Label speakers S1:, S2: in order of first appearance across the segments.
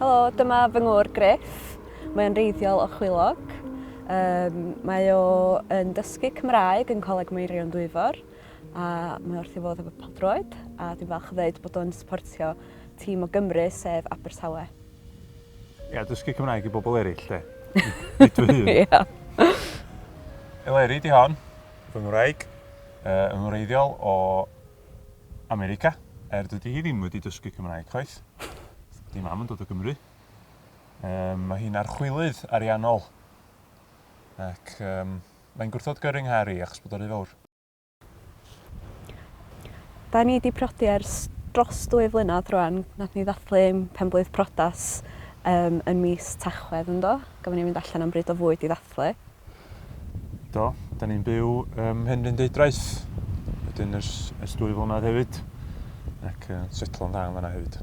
S1: Helo, dyma fy ngwr Griff. Mae'n reiddiol o Chwilog. Um, mae o yn dysgu Cymraeg yn Coleg Meirion Dwyfor a mae wrth i fod efo paldroed a dwi'n falch o ddweud bod o'n supportio tîm o Gymru sef Abertawe.
S2: Ia, dysgu Cymraeg i bobl eraill, de. Nid fy hun. Ia. Eleri, di hon. Fy ngwraig. yn wreiddiol o America, er dydy hi ddim wedi dysgu Cymraeg chwaith. Dydy mam yn dod o Gymru. Um, mae hi'n archwilydd ariannol. Ac um, mae'n gwrthod gyrru nghari achos bod o'r rhy fawr.
S1: Da ni wedi prodi ers dros dwy flynedd rwan. Nath ni ddathlu penblwydd prodas um, yn mis Tachwedd ynddo. Gofyn ni fynd allan am bryd o fwyd i ddathlu.
S2: Do, da ni'n byw ym Mhenrhyn Deudraeth, wedyn ers, ers dwy flynedd hefyd, ac uh, setlo'n dda yn fanna hefyd.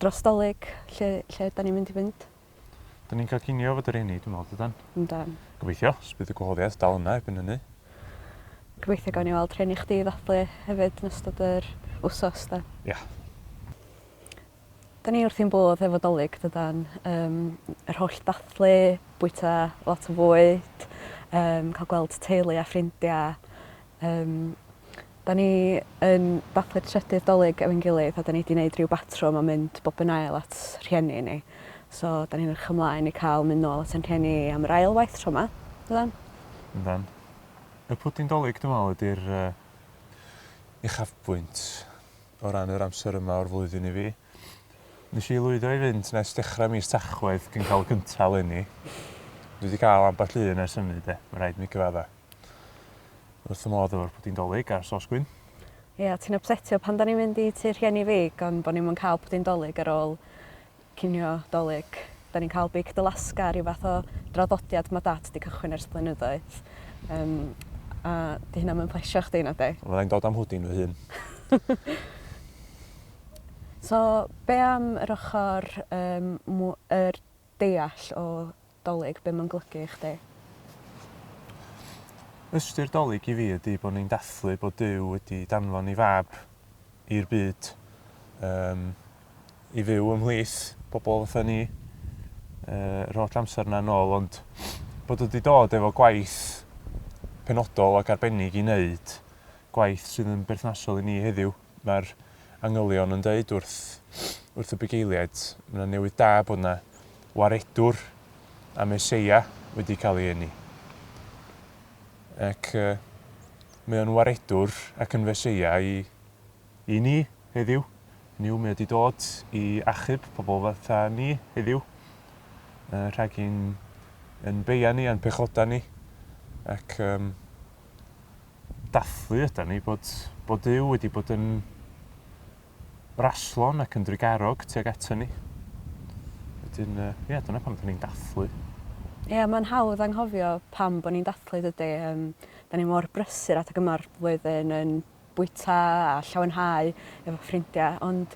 S1: Dros dolyg, lle, lle da ni'n mynd i fynd? Da ni'n cael
S2: cinio fod yr enni, dwi'n meddwl, dydan? Yndan. Gobeithio,
S1: os bydd y
S2: gwahoddiad dal yna erbyn hynny.
S1: Gobeithio gawn ni weld rheni chdi ddathlu hefyd yn ystod yr wsos, da. Ia. 'Da ni wrthi'n bodd efo 'Dolig dydan? Yym yr holl dathlu, bwyta lot o fwyd, yym ca'l gweld teulu a ffrindia. Yym 'da ni yn dathlu'r trydydd 'Dolig efo'n gilydd a 'da ni 'di neud ryw batrwm o mynd bob yn ail at rhieni ni. So 'da ni'n edrych ymlaen i ca'l myn' nôl at 'yn rhieni am yr ail waith tro 'ma. Yndan? Yndan.
S2: Y pwdin 'Dolig dwi me'wl ydi'r yy uchafbwynt. o ran yr amser yma o'r flwyddyn i fi. Nes i lwyddo i fynd nes dechrau mis Tachwedd cyn cael y cyntaf eleni. Dwi wedi cael ambell un ers hynny de, mae'n rhaid mi gyfadda. Wrth y modd efo'r pwdin dolyg a'r sos gwyn. Ia, ti'n
S1: ypsetio pan 'dan ni'n mynd i tŷ rhieni fi gan bo' ni'm yn cael pwdin dolyg ar ôl Cinio 'Dolig. Dan ni'n cael beic dy lasga, rhyw fath o draddodiad ma' Dad 'di cychwyn ers blynyddoedd. Yym, a 'di hynna 'm yn plesio chdi, na 'di? Fydda i'n dod â'm hwdin fy hun. So, be' am yr ochor yym mw- er deall o Dolig, be mae'n golygu i chdi?
S2: Ystyr Dolig i fi ydy bod ni'n dathlu bod Duw wedi danfon ei Fab i'r byd yym i fyw ymhlith bobl fatha ni yy yr holl amser 'na nôl ond bod o 'di dod efo gwaith penodol ac arbennig i neud, gwaith sydd yn berthnasol i ni heddiw. Mae'r angylion yn dweud wrth wrth y bugeiliaid, mae 'na newydd da bod 'na waredwr a Meseia wedi cael ei eni. Ac uh, mae o'n waredwr ac yn Feseia i, i ni heddiw. Hynny yw, mae wedi dod i achub pobl fatha ni heddiw, uh, rhag i'n yn beia ni a'n pechoda ni. Ac um, dathlu ydan ni, bod, bod Duw wedi bod yn raslon ac yn drugarog tuag ato ni. Wedyn, uh, ie, dyna pam dyn ni'n dathlu. Ie, yeah, mae'n
S1: hawdd anghofio pam bod ni'n dathlu dydy. Um, da ni mor brysur at y gyma'r flwyddyn yn bwyta a llawenhau efo ffrindiau, ond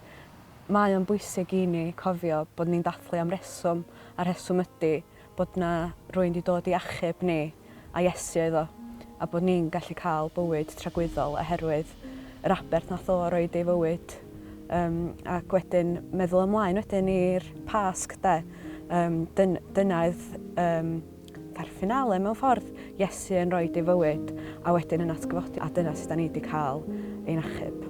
S1: mae o'n bwysig i ni cofio bod ni'n dathlu am reswm, a reswm ydy bod 'na rywun 'di dod i achub ni, a Iesu oedd o, a bod ni'n gallu cael bywyd tragwyddol oherwydd yr aberth nath o roid ei fywyd. Um, ac wedyn meddwl ymlaen wedyn i'r Pasg, de. Um, dyn, dyna oedd um, fa'r finale mewn ffordd, Iesu yn rhoi ei fywyd, a wedyn yn atgyfodi, a dyna sydd da ni wedi cael ein achub.